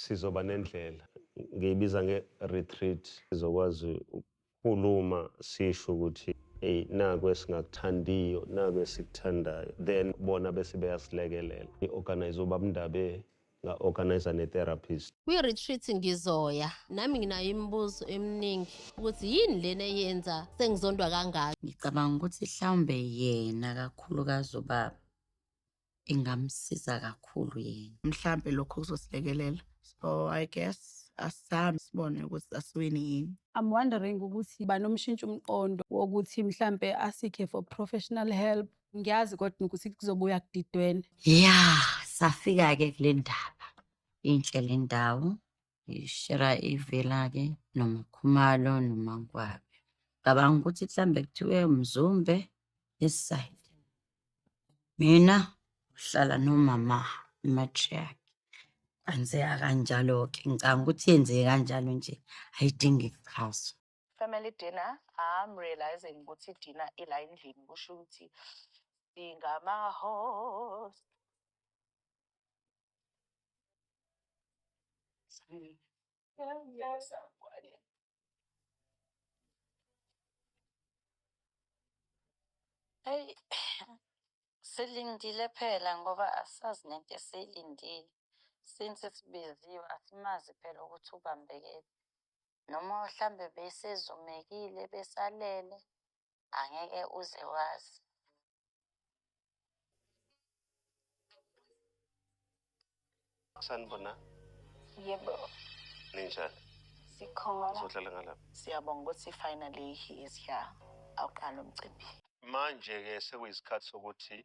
sizoba nendlela ngiyibiza nge-retreat sizokwazi ukukhuluma sisho ukuthi eyi naku esingakuthandiyo naku esikuthandayo then bona bese beyasilekelela i-organize uba mndabe nga-organize ne-therapist kwi-retreat ngizoya nami nginayo imibuzo eminingi ukuthi yini lena eyenza sengizondwa kangaka ngicabanga ukuthi hlawumbe yena kakhulukazi ubaba ingamsiza kakhulu yena mhlampe lokho kuzosilekelela so i guess asisami sibone ukuthi asiwini yini I'm wondering ukuthi banomshintsha umqondo wokuthi mhlampe asikhe for professional help ngiyazi kodwa ukuthi kuzobuya kudidwene ya safika-ke kule ndaba inhle le ndawo ngishera ivela-ke nomakhumalo nomankwabe cabanga ukuthi mhlawumbe kuthiwe mzumbe eside mina uhlala nomama matriarch kwenzeka kanjalo-ke ngicabanga ukuthi yenzeke kanjalo nje ayidingi kuchazwa Family dinner, I'm realizing ukuthi dinner ila endlini kusho ukuthi singama host. Hey, silindile phela ngoba asazi nento esiyilindile. Since sibiziwe asimazi phela ukuthi ubambekephi. noma mhlambe besezumekile besalele angeke uze wazi sanibona yebo ninjani sikhona sohlala ngalapha siyabonga ukuthi finally he is here awuqala umcimbi manje-ke sekuyisikhathi sokuthi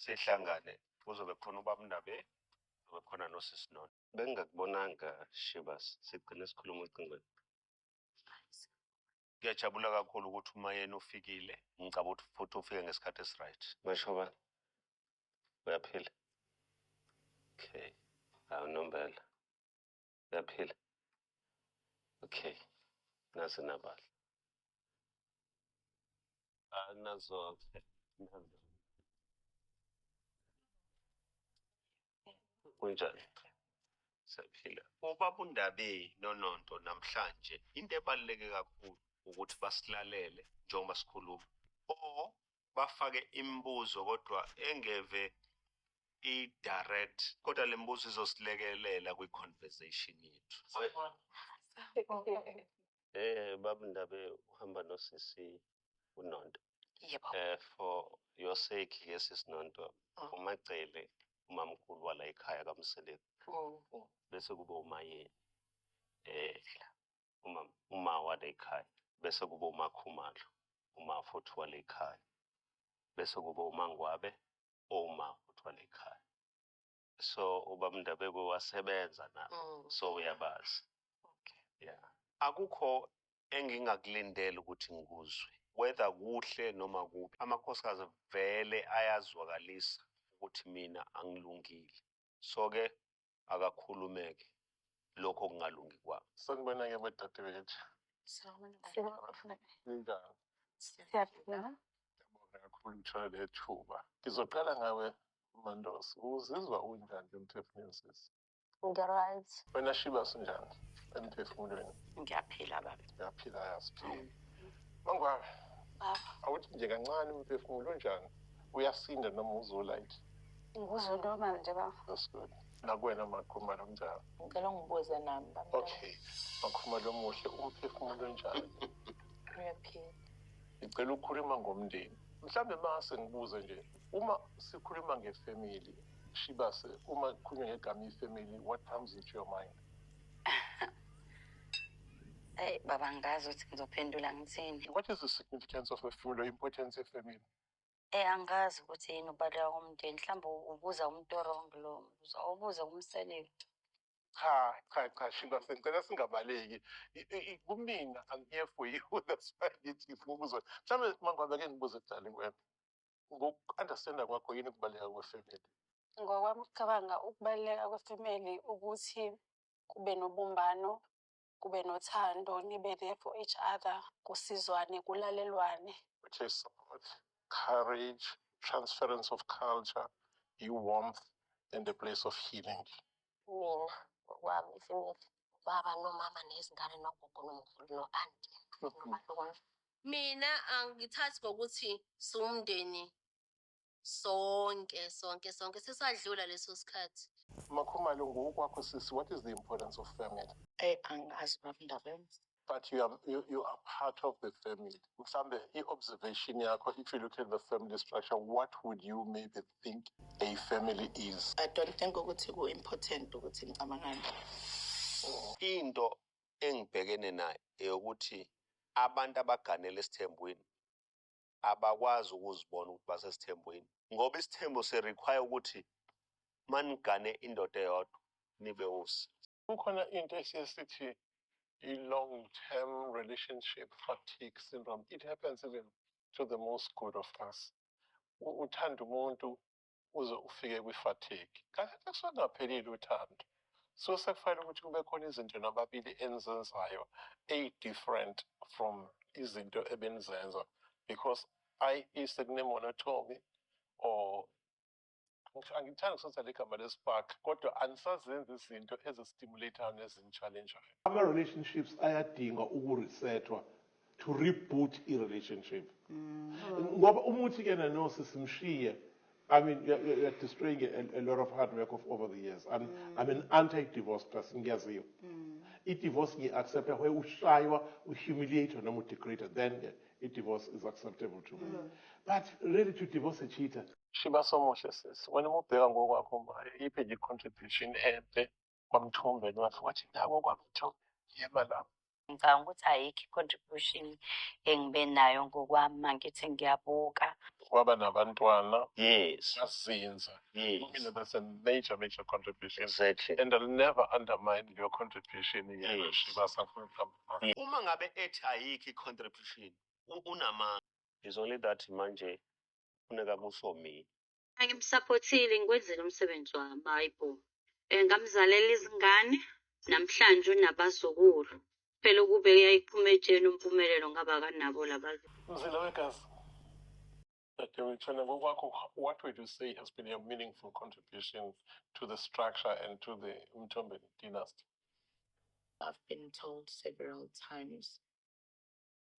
sihlangane kuzobe khona ubabundabe kuzobe khona nosisi nona bengingakubonanga Shebas sigcine sikhuluma ocingweni. Ngiyajabula kakhulu ukuthi uma yena ufikile ngicaba ukuthi futhi ufike ngesikhathi esiright. Mashoba uyaphila. Okay. Hawu nombela. Uyaphila. Okay. Nasi nabala. Ah nazo. Nazo. kunjani siyaphila ubaba undabe nononto namhlanje into ebaluleke kakhulu ukuthi basilalele njengoba sikhuluma o bafake imibuzo kodwa engeve i-direct kodwa le mbuzo izosilekelela kwi-conversation yethu eh baba ndabe uhamba nosisi unonto yebo eh for your sake ke sis Nonto Mm. umacele umamkhulu wala ekhaya kamseleku Mm. bese kuba umayeni eh uma uma wale ekhaya bese kuba umakhumalo uma futhi wale ekhaya bese kuba umangwabe oma futhi wale ekhaya so ubaba Ndabeko wasebenza na mm. so uyabazi okay. yeah. akukho engingakulindela ukuthi ngikuzwe whether kuhle noma kubi amakhosikazi vele ayazwakalisa ukuthi mina angilungile so ke akakhulumeke lokho kungalungi kwami sanibona-ke badadewethu siyaphila kakhulu ngithola le thuba ngizoqala ngawe Mandos, uzizwa unjani ke emphefumulweni sisi? Ngi-right. Wena Shiba sinjani emphefumulweni? Ngiyaphila baba. Ngiyaphila yazi. Mangwabe. Baba. Awuthi nje kancane umphefumulo unjani? Uyasinda noma uzolayithi? Ngikuzwe normal nje baba. That's good. Nakwena makhumalo kunjani? Ngicela ungibuze nami baba. Okay. Makhumalo omuhle umphefumulo unjani? Uyaphila. Ngicela ukukhuluma ngomndeni. Mhlambe mase ngibuze nje uma sikhuluma ngefamily shibase uma kukhulunywa ngegama ifamily what comes into your mind eyi baba ngazi ukuthi ngizophendula ngithini what is the significance of a family or importance of family Eh angazi ukuthi yini ubaleka komndeni mhlawumbe ubuza umuntu orong lo mbuzo awubuze kumseleni cha cha cha shiba sengicela singabaleki kumina i'm here for you that's why ngithi ngifuna ukuzona mhlawumbe mangabe ke ngibuze darling wena Ngoku-understanda kwakho yini ukubaluleka kwefemeli? Ngokwami ukucabanga ukubaluleka kwefemeli ukuthi kube nobumbano, kube nothando, nibe there for each other, kusizwane, kulalelwane. Which is support, courage, transference of culture, you warmth and a place of healing. Mina ngokwami ifemeli ubaba nomama nezingane nogogo nomkhulu no-anti. Mina angithathi ngokuthi siwumndeni sonke sonke sonke sesadlula leso sikhathi. Makhumalo ngokwakho sisi what is the importance of family? Eyi angazi baba indaba yami. but you are, you, you are part of the family. Mhlambe i-observation yakho, if you look at the family structure, what would you maybe think a family is? I don't think ukuthi ku-important ukuthi ngicabangani. Into engibhekene nayo eyokuthi abantu abaganele esithembweni abakwazi ukuzibona ukuthi basesithembweni ngoba isithembo si-require ukuthi manigane indoda eyodwa nibe usi kukhona into esiye sithi i-long term relationship fatigue syndrome it happens even to the most good of us uthanda umuntu uze ufike kwi-fatigue. Kakade kusuke kungaphelile uthando. Suke sekufanele ukuthi kube khona izinto nababili enizenzayo eyi-different from izinto ebenizenza because ayi isekunemonotomy or angithandi kusebenzisa le gama lespark kodwa anisazenzi izinto ezistimulatayo nezinchallenjayo ama-relationships ayadinga uku-resethwa to reboot i relationship ngoba uma uthi kuyena no sisi mshiye I mean you're, you're, you're destroying a, a lot of hard work of over the years I'm, mm. I'm an anti-divorce person ngiyaziyo mm. i-divorce ngiyi-accepta where ushaywa uhumiliator noma udegrader then ke i-divorce is acceptable to me mm. but really to divorce a cheater shiba somuhle sisi wena uma ubheka ngokwakho iphi nje i-contribution enhle kwamthumbeni wathi wathi nawo kwamthumbeni yema lapho ngicabanga ukuthi ayikho i-contribution engibe nayo ngokwami mangithi ngiyabuka waba nabantwana yes bazinza yes mina that's a major major contribution exactly and i'll never undermine your contribution yes uma ngabe ethi ayikho i-contribution unamanga is only that manje funeka kusho mina Angimsaphothile ngikwenzela umsebenzi wami hayi bo. Eh, ngamzalela izingane namhlanje unabazukulu. Phela ukube uyayiphuma etsheni umpumelelo ngaba kanabo labazukulu. Mzila wegazi. Dadewethu wena ngokwakho what would you say has been your meaningful contribution to the structure and to the Mthombeni dynasty? I've been told several times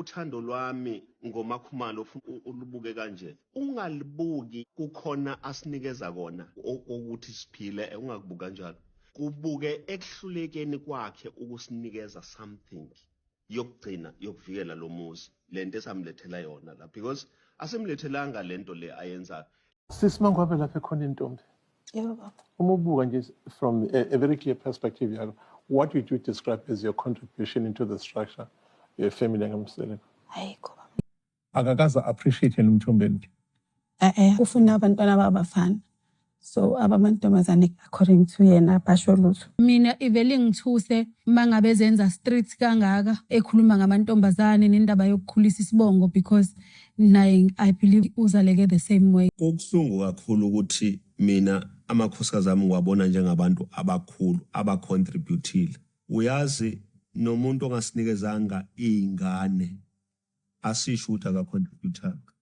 Uthando lwami ngomakhumalo ufuna ulubuke kanje ungalibuki kukhona asinikeza kona ukuthi siphile ungakubuka kanjalo kubuke ekuhlulekeni kwakhe ukusinikeza something yokugcina yokuvikela lo muzi lento esamlethela yona la because asimlethelanga lento le ayenzayo Sisi mangwabe lapha ekhona intombi. Yebo baba. Uma ubuka nje from a, a very clear perspective yalo, what would you describe as your contribution into the structure your family ngamseleko? Ayikho. Akakaza appreciate yena umthombeni. Eh eh ufuna abantwana babafana. so abamantombazane according to yena basho lutho mina ivele ngithuse mangabe zenza street kangaka ekhuluma ngamantombazane nendaba yokukhulisa isibongo because naye i believe uzaleke the same way Kubuhlungu kakhulu ukuthi mina amakhosikazi ami ngiwabona njengabantu abakhulu abacontributile. Uyazi nomuntu ongasinikezanga iy'ngane asisho ukuthi akacontributanga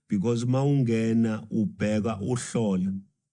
because uma ungena ubheka uhlola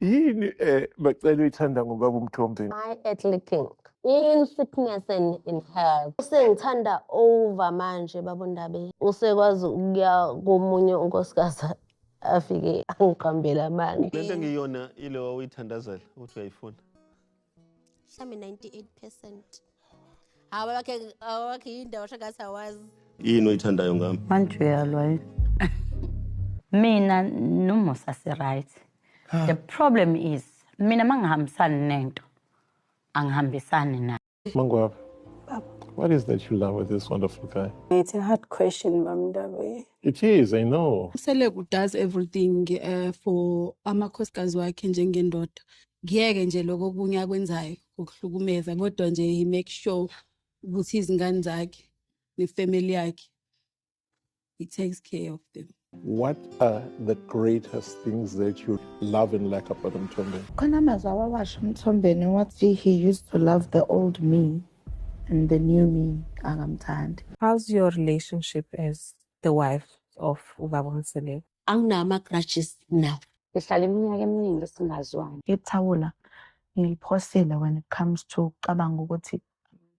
yini um bacela uyithanda ngobaba umthombe my earthly king in sickness and in health usengithanda over manje babondabe usekwazi ukuya komunye unkosikazi afike angiqambele amanga lento engiyona ilewa uyithandazela ukuthi uyayifuna mhlawumbe 98 percent hawa wakhe hawa wakhe yindawo shagathi awazi yini oyithandayo ngami manje uyalwa yini mina nomusa si-right the problem is mina mangihambisani nento angihambisani nayo Mangwab, what is that you love with this wonderful guy? It's a hard question, Mamdabe. It is, I know. Selegu does everything uh, for amakhosikazi wakhe njengendoda ngiyeke nje lokho okunye akwenzayo ukuhlukumeza kodwa nje he make sure ukuthi izingane zakhe nefamily yakhe he takes care of them What are the greatest things that you love and like about Mthombeni? Khona amazwi awawasho Mthombeni wathi he used to love the old me and the new me akamthandi. How's your relationship as the wife of Ubaba Mseleku? anginawo ama-grudges now sihlala iminyaka eminingi singazwani ithawula ngiliphosile when it comes to ucabanga ukuthi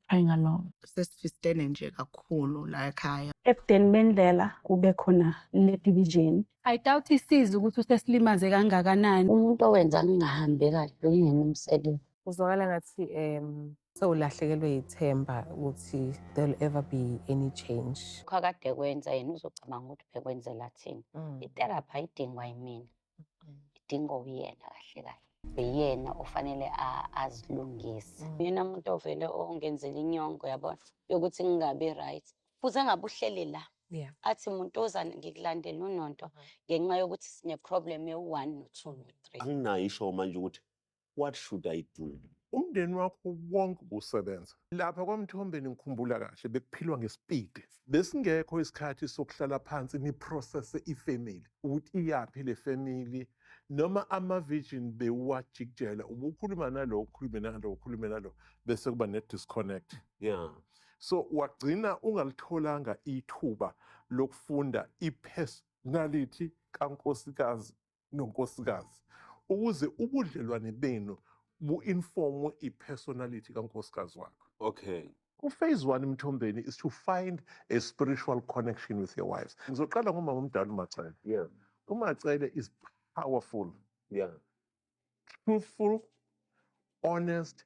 trying along sesifistene nje kakhulu la ekhaya ebudeni bendlela kube khona le division i doubt isiza ukuthi usesilimaze kangakanani umuntu owenza ngingahambi kahle uyini umsebenzi uzwakala ngathi um So ulahlekelwe yithemba ukuthi there'll ever be any change. Khakade kwenza yena uzocabanga ukuthi bekwenzela thina. Mm. Itherapy ayidingwa yimina. Mm. Idingwa uyena kahle kahle. Uyena ofanele azilungise. Mm. Yena umuntu ovele ongenzela inyongo yabona yokuthi ngingabi right. Futhi engabe uhleli la. Yeah. Athi umuntu ozana ngikulandela unonto mm-hmm. ngenxa yokuthi sine problem ewu-1 no-2 no-3. Anginayo isho manje ukuthi what should I do? Umndeni wakho wonke ubusebenza. Lapha kwaMthombeni ngikhumbula kahle bekuphilwa ngesipidi. Besingekho isikhathi sokuhlala phansi niprocesse ifamily ukuthi iyaphi le family noma ama-virgin bewuwajikijela ubukhuluma nalo ukhulume nalo ukhulume nalo bese kuba ne-disconnect. Yeah. So wagcina ungalitholanga ithuba lokufunda i-personality kankosikazi nonkosikazi ukuze ubudlelwane benu bu-informwe i-personality kankosikazi wakho okay uphase one emthombeni is to find a spiritual connection with your wives ngizoqala ngomama omdala umacele yeah. umacele is powerful yeah. truthful honest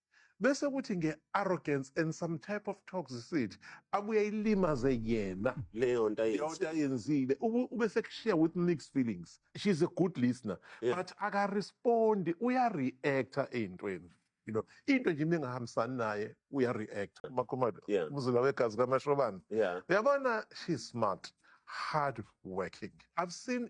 bese kuthi nge arrogance and some type of toxicity abuye ayilimaze yena leyonto ayenzile ayenzile ube sekushiya with mixed feelings she's a good listener yeah. but aka respond uya reactor eyintweni you know into nje ningahambisani naye uya reactor makhumalo yeah. umzila wegazi kamashobana yeah. uyabona she's smart hard working i've seen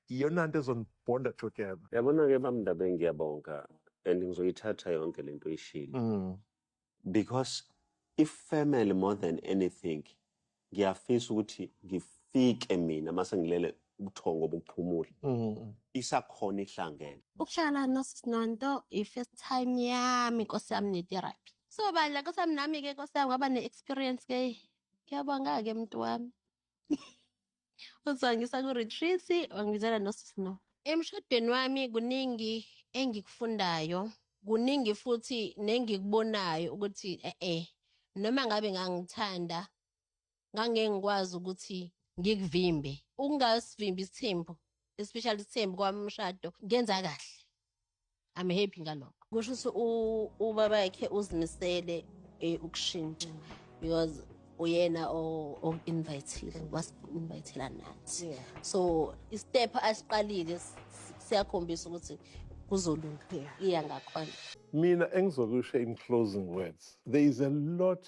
iyona nto ezonibhonda together yabona ke bamndabe ngiyabonga and ngizoyithatha yonke lento oyishilo mm. because if family more than anything ngiyafisa ukuthi ngifike mina mase ngilele ubuthongo bokuphumula mm. isakhona ihlangene ukuhlala nosinonto i-first time yami nkosi yami netherapy so bandla nkosi yami nami-ke nkosi yami ngaba ne-experience ke ngiyabonga-ke mntu wami uzongisa ku-retreat wangibizela nosifno emshadweni wami kuningi engikufundayo kuningi futhi nengikubonayo ukuthi e-e noma ngabe ngangithanda ngangeke ngikwazi ukuthi ngikuvimbe ukungasivimbi isithembu especially isithembu kwami umshado ngenza kahle i'm happy ngalokho kusho ukuthi ubaba yakhe uzimisele eh, ukushintsha because uyena o-invitile wasi-invitela nathi so istep asiqalile siyakhombisa ukuthi kuzolunga iya ngakhona mina engizokusho in closing words there is a lot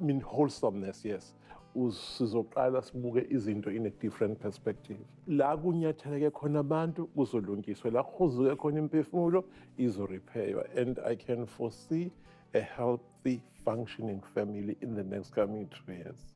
mean wholesomeness yes sizoqala sibuke izinto in a different perspective la kunyatheleke khona abantu kuzolungiswa la kuhuzuke khona imphefumulo izorepheywa and i can foresee a healthy functioning family in the next coming two years